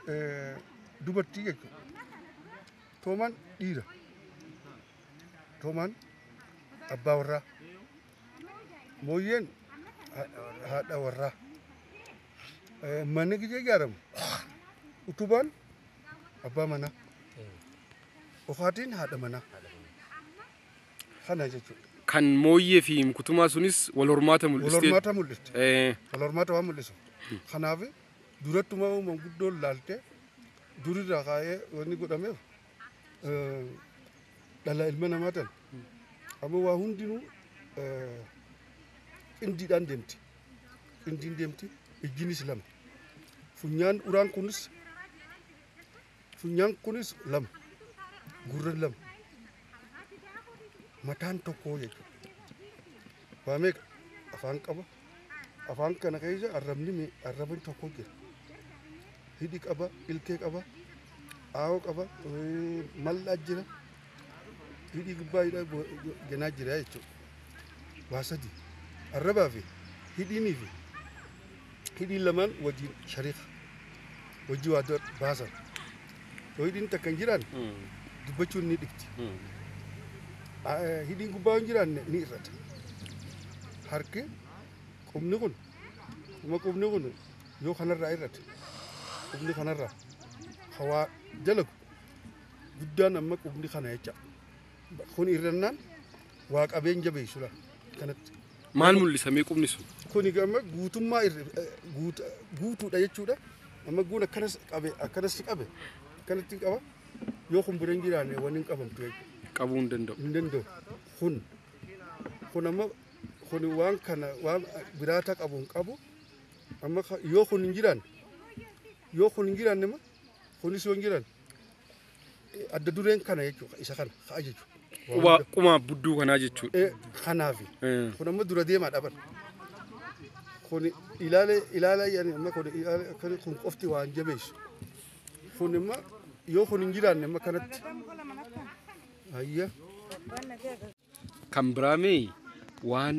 eh, dubartii jechuudha. Toomaan dhiira. Toomaan abbaa warraa. Mooyyeen ha- haadha warraa. Eh, Manni gijee ijaaramu. Utubaan abbaa manaa. Ofaatiin haadha manaa. Kana jechuudha. Kan mooyyee fi kutumaa sunis wal hormaata Wal mul'iste. hormaata mul'iste. Eh, Wal hormaata waan mul'isu. Kanaaf Durattumaa manguddoon laaltee durirraa kaa'ee wanni godhameef dhala ilma namaa tan amma waa hundinuu qindiidhaan deemti. Qindiin deemti ijjinis lama. Funyaan uraan kunis Funyaan kunis lama, gurran lama, mataan tokkoo jechuudha. Waa meeqa afaan qaba. Afaan kana keessa arrabni me- arrabni tokko jira. Hidhi qaba, ilkee qaba, aawoo qaba, eh, mal'aa jira. hidhii gubbaa hidha ganaa jira jechuudha. Waa sadi arrabaa fi hidhiinii fi hidhiin lamaan wajjin shariika wajji waa baasan. Yoo hidhiin takka hin jiraan dubbachuun ni dhibti. Hidhiin gubbaa hin jiraanne ni irrata. Harki qubni kun quma qubni kun yoo kanarraa irrate qubni kanarraa hawaa dalagu guddaan amma qubni kana jecha kun irrannaan waa qabeen jabeessudha kanatti. Maal mul'isa mee qubni sun? Kun amma guutummaa guutuudha jechuudha. Amma guun akkanas qabe akkanas qabe akkanatti qaba yoo kun bira hin jiraanne waan hin qabamtu jechuudha. Qabuu hin danda'u. Hin danda'u kun kun amma kun waan kana waan biraata qabu hin qabu amma yoo kun hin jiraanne yoo kun hin jiraanne kunis yoo hin jiraanne. adda dureen kana jechuudha isa kana ka ajaju. Quba qumaa budduu kanaa jechuudha. Eh, Kanaafi Eh. kun amma dura deemaa dhaban. Kun ilaala ilaala yaani amma kun ilaala akkana kun qofti waan jabeessu. Kun amma yoo kun hin jiraanne amma kanatti. Ayya. Kan biraa mee waan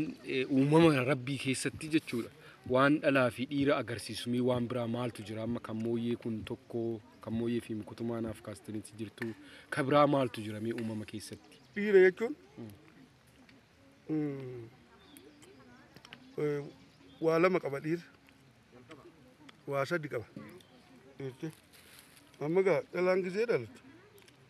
uumama rabbii keessatti jechuudha. Waan dhalaa fi dhiira agarsiisu mee waan biraa maaltu jira amma kan mooyyee kun tokko kan mooyyee fi mukutumaa naaf kaastanitti jirtu ka biraa maaltu jira mee uumama keessatti. Dhiira jechuun mm, eh, waa lama qaba dhiira. Waa sadi qaba. Jettee. Amma gaa dhalaan gisee dhalatu.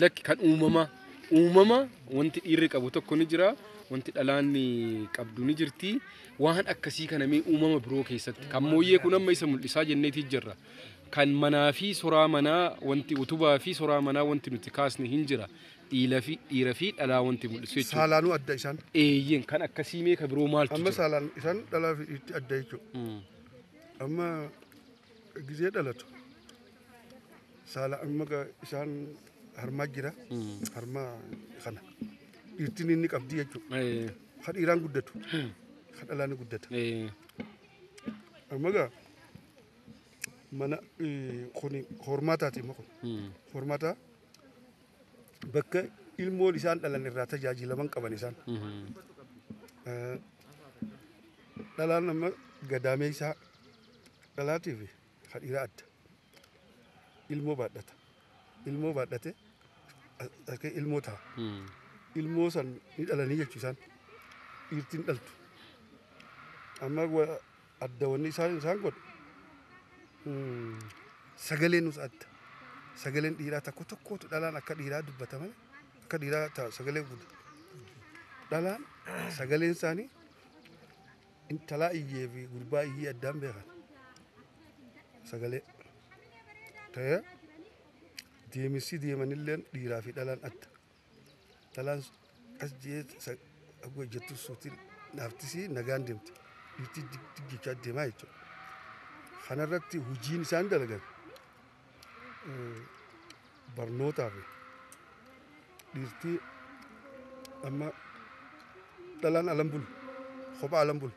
Lakki kan uumamaa. Uumama wanti dhiirri qabu tokko ni jira. Wanti dhalaan qabdu ni jirti. Waan akkasii kana mee uumama biroo keessatti. Kan mooyyee kun amma isa mul'isaa jenneetii jirra. Kan manaa fi soraa manaa wanti utubaa fi soraa manaa wanti nuti kaasne hin jira. Dhiila fi dhiira fi dhalaa wanti mul'isu jechuudha. Saalaanuu adda isaan. Eeyyeen kan akkasii mee ka biroo maaltu Amma jira? saalaan isaan dhalaa fi dhiirti adda jechuudha. Mm. Amma gizee dhalatu. saala amma ga- isaan harmaa jira harmaa kana dhiirtiin inni qabdi jechuudha Eh, ka dhiiraan guddatu ka dhalaa ni guddata eh, amma gaa mana eh, kuni hormaataati amma kun mm, hormaataa bakka ilmoon isaan dhalan irraa tajaajilaman qaban isaan mhm, Eh, dhalaan amma gadaamee isaa dhalaatiif ka dhiiraa adda ilmoo baadhata ilmoo baadhate akka ilmoo ta'a ilmoo san ni dhalanii jechuu isaan dhiirtiin dhaltu amma wa- adda wanni isaan isaan godhu mm, sagalee nus adda sagaleen dhiiraa tokko tokkootu dhalaan akka dhiiraa dubbata malee akka dhiiraa ta'a sagalee guddatu dhalaan sagaleen isaanii Intalaa iyyee fi gurbaa iyyee addaan beekan. Sagalee ta'ee deemsi deemanillee dhiiraa fi dhalaan adda. Dhalaan as jee akka hojjettu suuti naaftisii nagaan deemti. Dhiirti jechaa deemaa jechuudha. Kanarratti hojiin isaan dalagan barnootaa fi dhiirtii amma dhalaan alan bulu kophaa alan bulu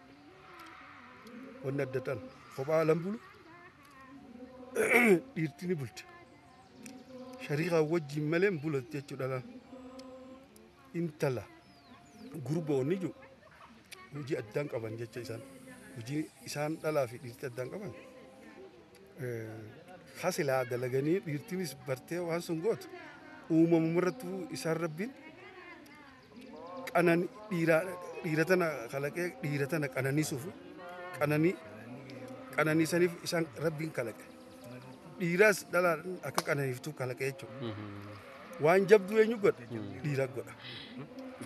wanni adda ta'an kophaa alan bulu dhiirtii ni bulti shariikaa wajjiin malee hin bulatti jechuudha dhalaan intala gurboonni jiru hojii addaan qaban jecha isaan hojii isaan dhalaa fi dhiirtii addaan qaban hasilaa dalaganii dhiirtiinis bartee waan sun gootu uumamumarrattu isaan rabbiin qanan dhiiraa dhiira tana kalaqee dhiira tana qananiisuuf qananii qananiisaniif isaan rabbiin kalaqe dhiiraas dhalaa akka qananiiftu kalaqe jechuudha waan jabduu eenyu godha dhiira godha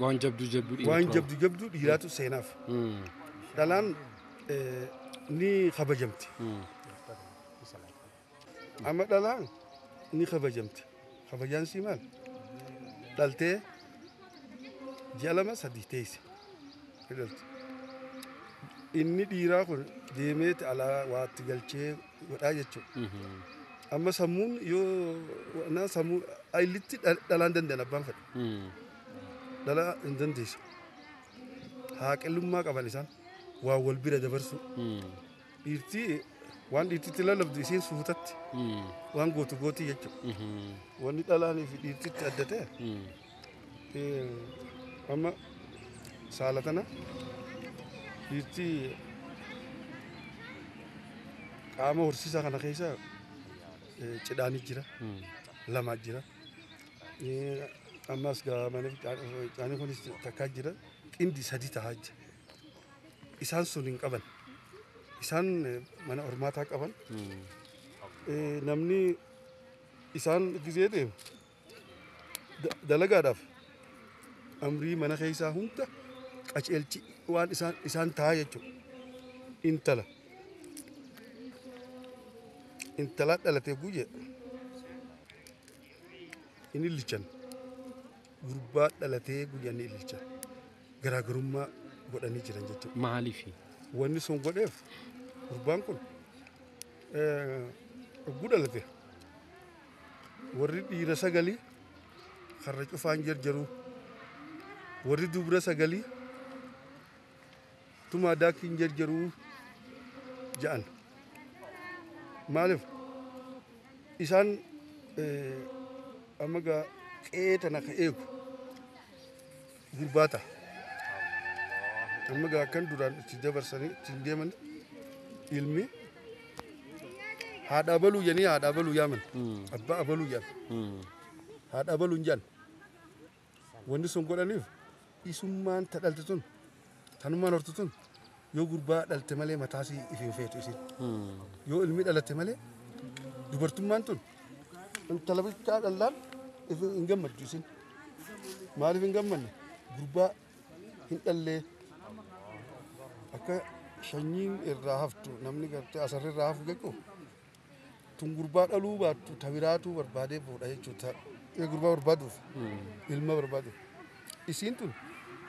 Waan jabduu jabduu waan jabdu jabduu dhiiraatu seenaaf dhalaan ni kabajamti. Amma dhalaan ni kabajamti. Kabajaan sii maal? Dhaltee ji'a lama sadii teesse. Ni dhalti. Inni dhiiraa kun deemeeti alaa waatti galchee godhaa jechuudha. Amma sammuun yoo naan sammuu illitti dha- dhalaan danda'an abbaan fedha. Dhalaa hin dandeessu. Haaqillummaa qaban isaan. waa wal bira dabarsuu. Dhiirti waan dhiirtitti lallabdu isiin suutatti waan gootu gooti jechuudha. Wanni dhalaanii fi dhiirtitti adda ta'e eh, amma saala tana dhiirti qaama horsiisaa kana keessa eh, cidhaanii jira lamaa jira. Eh, Ammas gaamanii caanii kunis takkaa jira xindi sadii tahaa jira. isaan sun hin qaban. Isaan eh, mana hormaataa qaban. Eh, Namni isaan gizee deemu da- dalagaadhaaf amrii mana keessaa hunda qaceelchi waan isaan isaan ta'a jechuudha. Intala intala dhalatee guyyee inni lichan. gurbaa dhalatee guyyaa ni ililcha garaagarummaa godhanii jiran jechuudha. Maaliif? Wanni sun godheef gurbaan kun oguu dhalate warri dhiira sagalii karra cufaan jarjaruu warri dubra sagalii tumaa daakii hin jarjaruu ja'an. Maaliif isaan amma gaa qe'ee tana ka eegu gurbaata. Amma gaa kan duraan itti dabarsanii ittiin deeman ilmi haadha abaluu jedhanii haadha abaluu yaaman abbaa abaluu jedhan haadha abaluu hin jedhan Wanni sun godhaniif isummaan ta dhalte tun tanummaan hortu tun yoo gurbaa dhalte malee mataasii if hin feetu isin yoo ilmi dhalate malee dubartummaan tun intala bichaa dhallaan if hin gammaddu isin maaliif hin gammanne gurbaa hin dhallee akka shanyiin irraa haftu namni gartee asarri irraa hafu jechuun Tun gurbaa dhaluu baattu ta biraatuu barbaadee fuudha jechuudha. Gurbaa barbaaduuf ilma barbaaduuf isiin tun